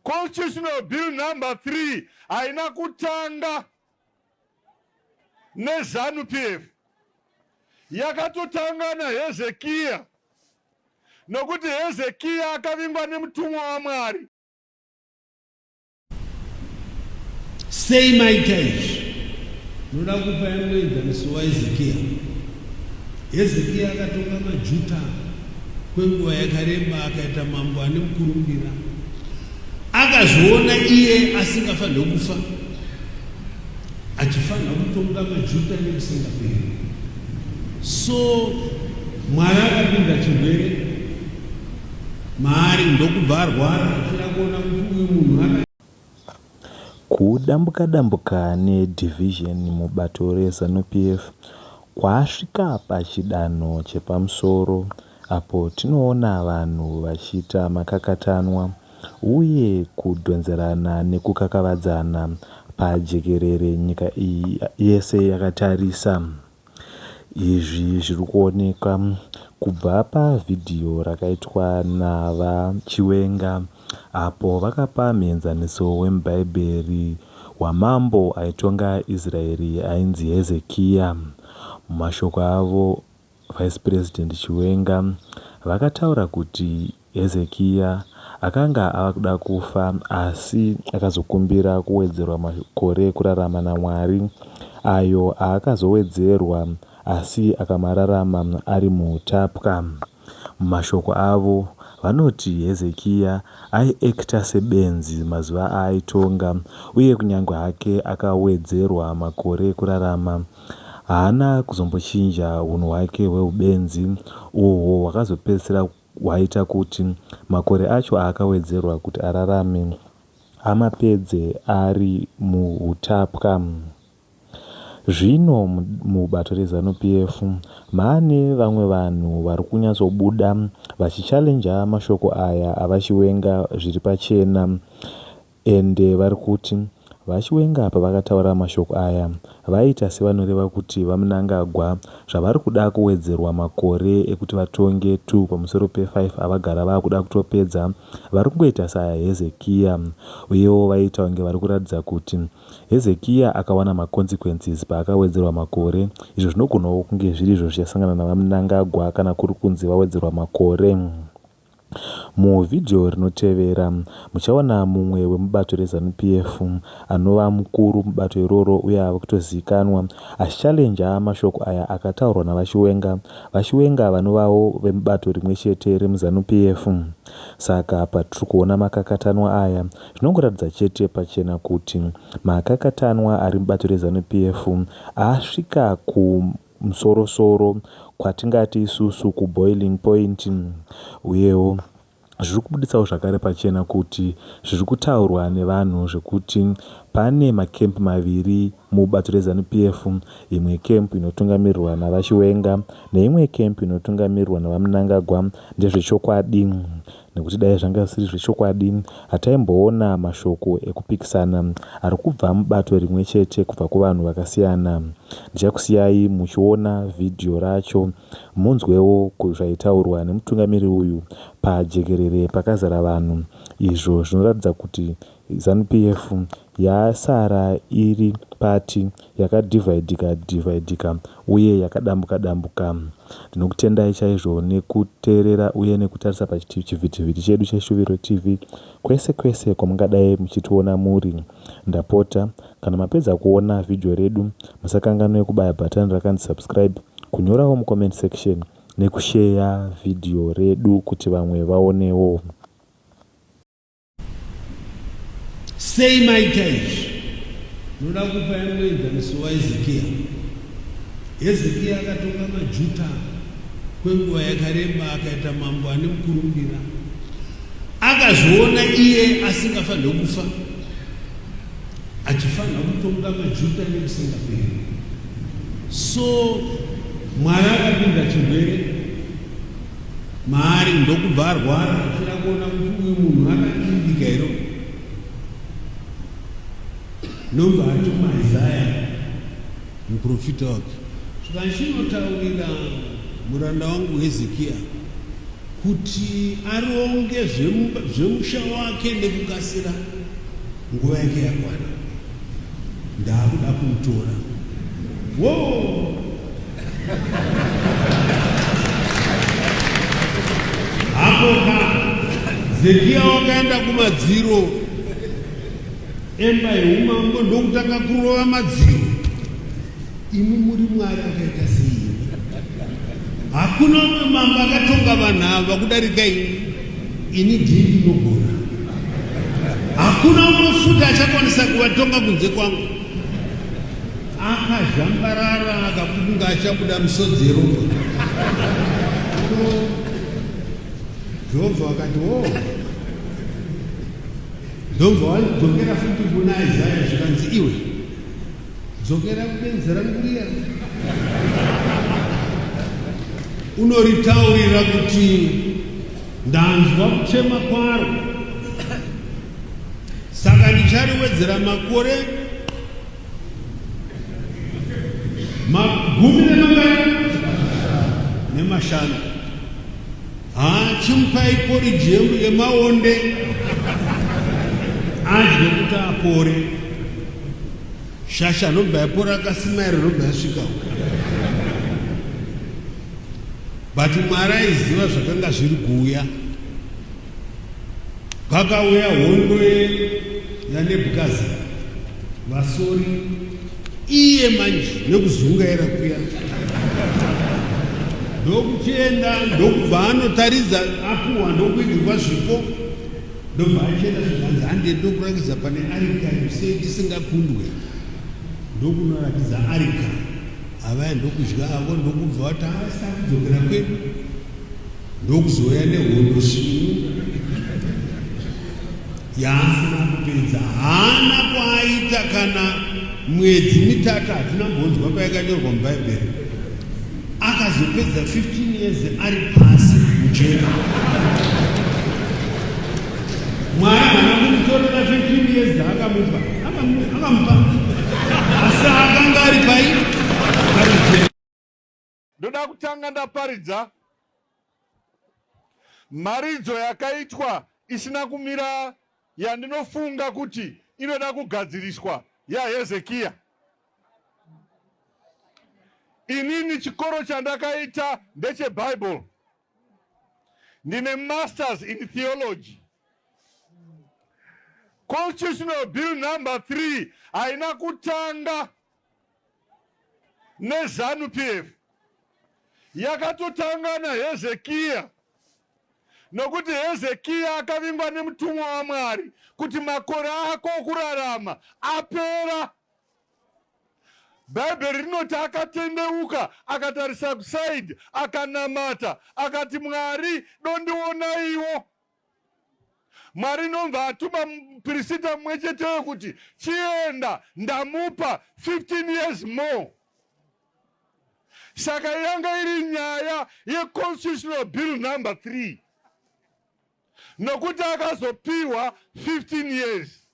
Constitutional Bill number 3 haina kutanga neZanu PF, yakatotanga naHezekiya, nokuti Hezekiya akavingwa nemutumwa waMwari. Sei maita izvi? Noda kupa yangu enzaniso waHezekiya. Hezekiya akatonga maJuta Kwenguva yakareba akaita mambo ane mukurumbira. Akazviona iye asingafanirwe kufa, achifanira kutonga maJuda nekusingaperi. So Mwari akapinda chirwere maari ndokubva arwara achida kuona kuti uyu munhu Kudambuka-dambuka neDivision mubato reZanu PF kwasvika pachidanho chepamusoro apo tinoona vanhu vachiita makakatanwa uye kudhonzerana nekukakavadzana pajekerere nyika iyi yese yakatarisa. Izvi zviri kuonekwa kubva pavhidhiyo rakaitwa naVaChiwenga apo vakapa muenzaniso wemuBhaibheri wamambo aitonga Israeri ainzi Hezekiya. Mumashoko avo, Vice President Chiwenga vakataura kuti Hezekia akanga ava kuda kufa, asi akazokumbira kuwedzerwa makore ekurarama naMwari, ayo aakazowedzerwa, asi akamararama ari muutapwa. Mumashoko avo, vanoti Hezekia aiekita sebenzi mazuva aaitonga, uye kunyange hake akawedzerwa makore ekurarama, haana kuzombochinja unhu hwake hweubenzi, uhwo hwakazopedzisira hwaita kuti makore acho aakawedzerwa kuti ararame amapedze ari muhutapwa. Zvino mubato reZanu PF maane vamwe vanhu vari kunyatsobuda vachichallenja mashoko aya aVaChiwenga zviri pachena. And vari kuti VaChiwenga pavakataura mashoko aya vaiita sevanoreva kuti VaMnangagwa zvavari kuda kuwedzerwa makore ekuti vatonge two pamusoro pe five avagara vakuda kutopedza vari kungoita sa Hezekia uyewo vaiita kunge vari kuratidza kuti Hezekia akawana ma consequences paakawedzerwa makore izvo zvinogonawo kunge zvirizvo zvichasangana na VaMnangagwa kana kuri kunzi vawedzerwa makore. Muvhidhiyo rinotevera, muchaona mumwe wemubato reZanu PF anova mukuru mubato iroro uye ave kutozivikanwa achichallenja mashoko aya akataurwa naVaChiwenga, VaChiwenga vanovawo vemubato rimwe chete remuZanu PF. Saka patiri kuona makakatanwa aya, zvinongoratidza chete pachena kuti makakatanwa ari mubato reZanu PF asvika ku. musorosoro kwatingati isusu kuboiling point uyewo zviri kubuditsawo zvakare pachena kuti zviri kutaurwa nevanhu zvekuti pane makemp maviri mubato rezanu pf imwe kemp inotungamirirwa navachiwenga neimwe kemp inotungamirirwa navamunangagwa ndezvechokwadi nekuti dai zvanga zvisiri zvechokwadi hataimboona mashoko ekupikisana ari kubva mubato rimwe chete kubva kuvanhu vakasiyana. Ndichakusiyai muchiona vhidhiyo racho munzwewo zvaitaurwa nemutungamiri uyu pajekerere pakazara vanhu izvo zvinoratidza kuti Zanupf yasara iri party yakadividika dividika uye yakadambuka dambuka. Ndinokutendai chaizvo nekuteerera uye nekutarisa pachivhitivhiti chedu cheShuviro TV kwese kwese kwamungadai muchitiona muri. Ndapota kana mapedza kuona vhidhiyo redu musakanganwe kubaya bhatani rakanzi subscribe, kunyorawo mucomment section nekusheya vhidhiyo redu kuti vamwe vaonewo. sei maita izvi noda kupa yanoenzaniso waezekiya hezekiya akatonga majuta kwenguva yakareba akaita mambo ane mukurumbira akazviona iye asingafanire kufa achifanira kutonga majuta nekusingaperi so mwari akapinda chirwere maari ndokubva arwara achida kuona kuti uyu munhu akakiribika iro ndomba atuma isaya muprofita wake zvakachinotaurira muranda wangu hezekiya kuti aronge zvemusha wake nekukasira nguva yake yakwana ndakuda kuutora wo hapoka zekiya wakaenda kumadziro emba yeumambo ndokutanga kurova madziro Imi muri Mwari akaita sei? Hakuna umwe mambo akatonga vanhu ava kudarika ini. Ini ndini ndinogona. Hakuna umwe futi achakwanisa kuvatonga kunze kwangu. Akazhambarara akakunga achabuda misodzi yeropa. Jehovha akati, "Oh, ndobva wadzokera futi kuna Isaya zvikanzi iwe Dzokera kubenzi rangu riya. Unoritaurira kuti ndanzwa kuchema kwaro, saka ndichariwedzera makore magumi nemangani nemashanu. Haa chimupai porridge yemu yemaonde adye kuti apore. Shasha anobva yapora akasimaira anobva yasvika uko. But Mwari aiziva zvakanga zviri kuuya. Pakauya hondo yeNebukadza vasori iye manje nekuzungaira kuya ndokuchienda ndokubva anotaridza apuwa ndokuigirwa zvipo ndobva achienda zvikanzi hande ndokurakidza pane arika sei tisingakundwe ndokunorakidza arika avaya ndokudya avo ndokubva vati havasita kudzokera kwedu ndokuzouya nehondo svinu yaasina kupedza haana kwaaita kana mwedzi mitatu hatina mbonzwa payakanyorwa mubhaibheri akazopedza 15 years ari pasi mujera mwari hana kumutorera 15 years dzaakamupa akamupa asi akanga ari pai Ndoda kutanga ndaparidza mharidzo yakaitwa isina kumira yandinofunga kuti inoda kugadziriswa yaHezekiya. Inini chikoro chandakaita ndecheBible. Ndine masters in theology. Constitutional bill number 3 haina kutanga nezanu pf yakatotanga nahezekiya nokuti hezekiya akavingwa nemutumwa wamwari kuti makore ako okurarama apera bhaibheri rinoti akatendeuka akatarisa kusaidi akanamata akati mwari dondionaiwo Mwari ndomva atuma mupirisita mumwe cheteyo kuti chienda, ndamupa 15 years more. Saka yanga iri nyaya yeconstitutional bill number 3 nokuti akazopiwa 15 years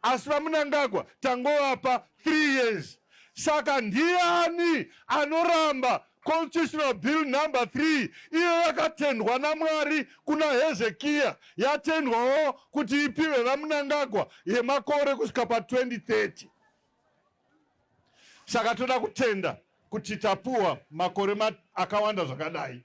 Asi VaMnangagwa tangovapa 3 years saka ndiani anoramba constitutional bill number 3 iyo yakatendwa namwari kuna hezekiya yatendwawo kuti ipiwe vamunangagwa yemakore kusvika pa 2030 saka toda kutenda kuti tapuwa makore akawanda zvakadai